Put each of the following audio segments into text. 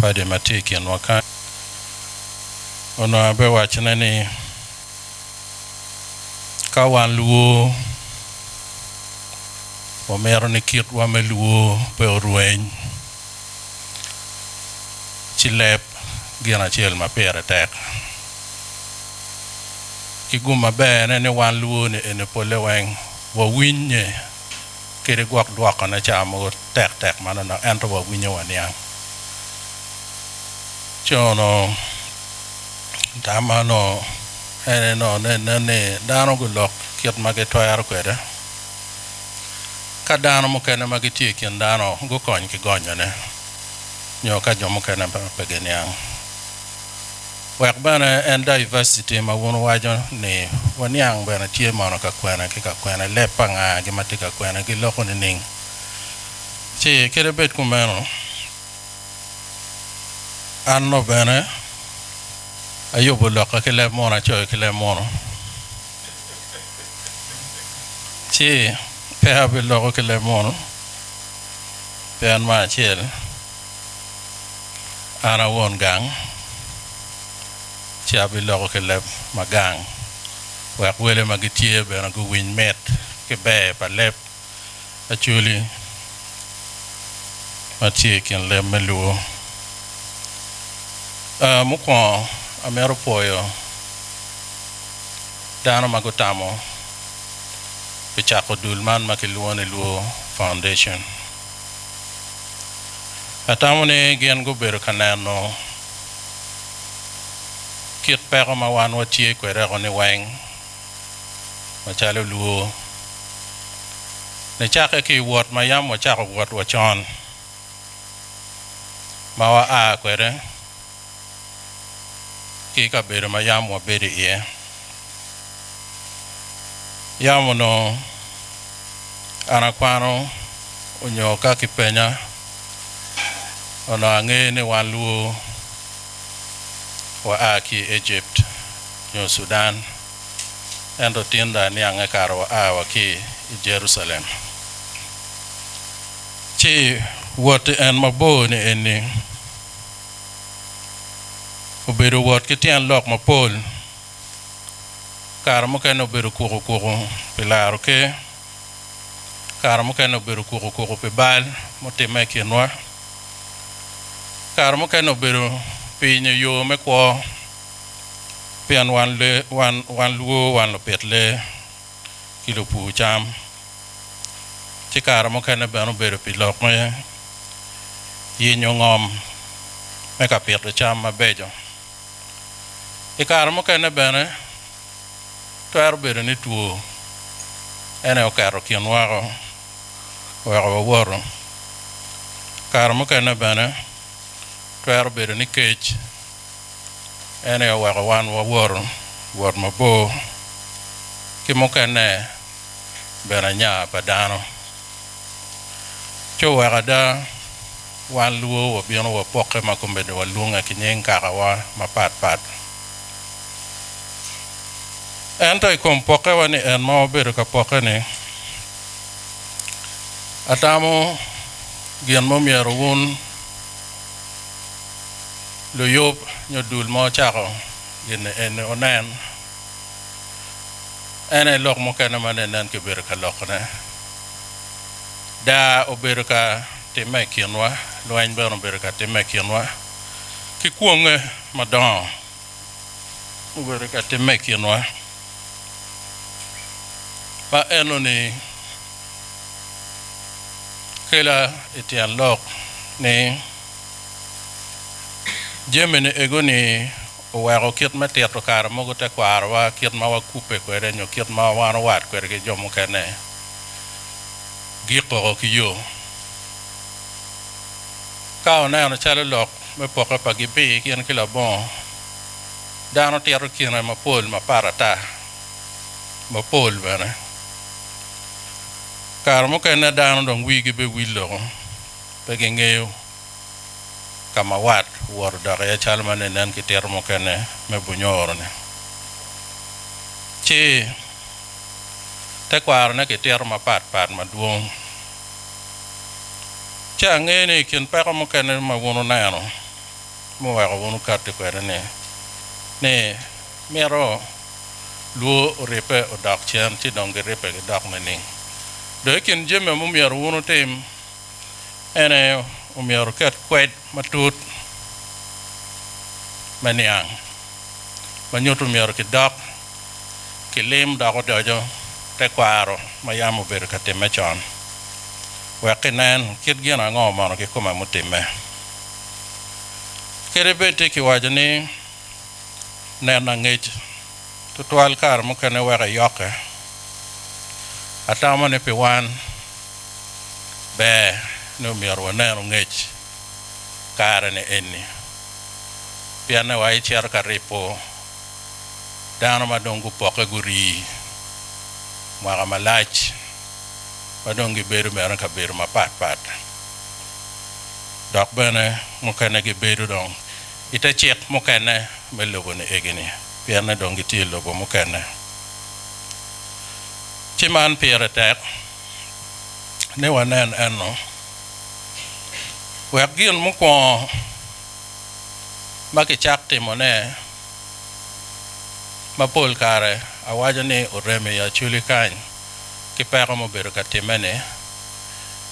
padi ma tye i kinwa kany onongo abiwacone ni ka wan luwo wamito ni kitwa me luwo pe orweny ci leb gin acel ma pire tek ki gum maberne ni wan luwo-ni eni pole weng wawinnye kadi gwok dwokone ca mogo tek tek manonok ento wawinyo waniang. Ci onongo tam onongo en aye nongo nene ni dano gulok kit ma gitwero kwede ka dano mukene ma gitye i kin dano gukony ki gonyone nyo ka jo mukene pe giniang. Wek bene en diversity ma wun wuwaco ni waniang bene tye mono ka kwene ki ka kwene, leb pa nga gi ma tye ka kwene gi loko nining? Ci kadi bed kumeno, an no bene ayubu loka ki leb mono acoyo ki leb mono, ci pe abi loko ki leb mono, pien ma acel. An a won gang, ci abiloko ki leb ma gang, wek wele ma gitye bene guwiny mit ki ber pa leb Acholi ma tye i kin leb me Luo. Aa, mukwongo amito pwoyo dano ma gutamo pi cako dul man ma kilwongo ni Luo Foundation. Atamo ni gin gubedo ka neno kit peko ma wan watye kwede-ku niweng macalo lwo. Nicakke ki i wot ma yam wacako wot wacon ma waa kwede, ki i kabedo ma yam wabedo iye. Yam onongo an akwano onyo ka kipenya, onongo angeyo ni wan luwo waa ki i Ejipt nyo Sudan, ento tinda aniange kara waa wa ki i Jerucalem. Ci wot en mabor-ni eni. obedo wot ki tyen lok mapol, kare mukene obedo kuku kuku pi laro ker, kare mukene obedo kuku kuku pi bal mutimme i kinwa, kare mukene obedo pinyo yo me kwo pien wan luo wan lupit lee. ki lupur cam, ci kare mukene bene obedo pi lok me yenyo ngom me ka pito cam mabeco. I kare mukene bene, twero bedo ni two en aye oketo kin woko oweko wawoto. Kare mukene bene twero bedo ni kec. En aye oweko wan wawoto wot mabor ki mukene bene anya pa dano. Ci oweko ada wan lwor wabino wapokke ma komedde walwonge ki nying kakawa mapat pat. Ento i kom pokkewa ni en ma wabedo ka pokke-ni, atamo gin ma omyero wun luyub nyo dul mo cako gin eni onen, en aye lok mukene ma nene en kibedo ka lokone. Daa obedo ka timme i kinwa, lweny bene obedo ka timme i kinwa, ki kwonge madongo obedo ka timme i kinwa. Ma enoni kela i tyen lok ni, Jamine ego-ni oweko kit me tito kare mogo tekwarowa, kit ma wakubbe kwede, nyo kit ma wan owat kwede ki jo mukene, gikoko ki yo. Ka oneno calo lok me poke pa gibi gin ki labongo, dano tito kine mapol mapat ata, mapol bene. Kare mukene dano dong wigi biwil loko. Pe gingeyo ka ma wat owoto odok iye calo ma ne nen ki tito mukene me bunyoro-ni. Ci, tekwarone ki tito mapat pat madwong. Ci angeyo ni i kin peko mukene ma wun wuneno muweko wun wukatti kwede-ni, ni mito lwor oribbe odok cen ci dong giribbe gidok nining? Dong i kin jami ma omyero wun wutim, En aye omyero oket kwed matut me niang ma nyuto omyero kidok kilim dok odoco tekwaro ma yam obedo ka timme con wek kinen kit gin ango mono kikome mutimme. Kadi bed tye kiwaco ni neno angec tutwal kare mukene weko eyokke, atamo ni pi wan, ber ni omyero wanenu ngec kare-ni eni, pienni wa ecito ka ripo dano ma dong gupokke gurii mwaka malac ma dong gibedo bene i kabedo mapat pat, dok bene mukene gibedo dong i te cik mukene me lobo-ni egini, pienni dong gitye i lobo mukene. Ci man pire tek. ni wanen enno, wek gin mukwongo ma kicak timone, ma pol kare awaco ni oremo i aculi kany ki peko mubedo ka timme-ni,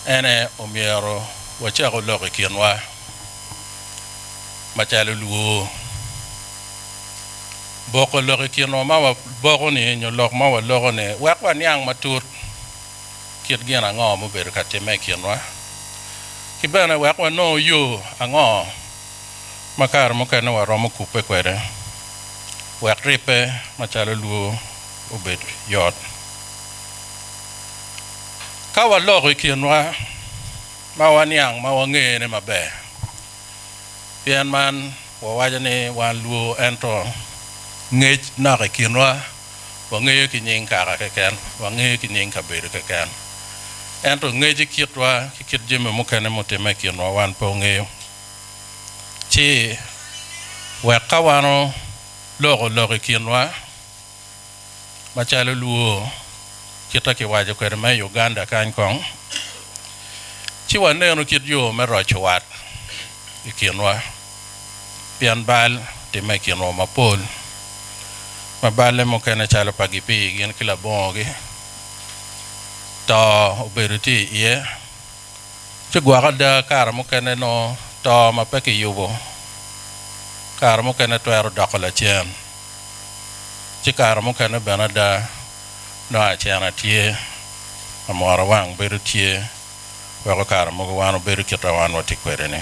en aye omyero wacaku lok i kinwa macalo lwor. boko lok i kinwa ma waboko-ni nyo lok ma waloko-ni wek waniang matut kit gin ango mubedo ka timme i kinwa, ki bene wek wanongo yo ango ma kare mukene waromo kubbe kwede wek ribbe macalo lwor obed yot. Ka waloko i kinwa ma waniang ma wangene maber, Pien man wawaco ni wan lwo, ento ngec nok i kinwa, wangeyo ki nying kaka keken, wangeyo ki nying kabedo keken, ento ngec i kitwa ki kit jami mukene mutimme i kinwa wan pe wangeyo. Ci wek ka wan oloko lok i kinwa, macalo Luo kita kiwaco kwede me i Uganda kany kong, ci wanenu kit yo me roco wat i kinwa, pien bal otimme i kinwa mapol, ma balle mukene calo pa gipii gin ki labongogi, to obedo tye iye, ci gwok ada kare mukene nongo to ma pe kiyubo kare mukene twero doko lacen. ci kare mukene bene ada nongo acena tye, amwora wang bedo tye, weko kare mogo wan obedo kita wan watye kwede ni.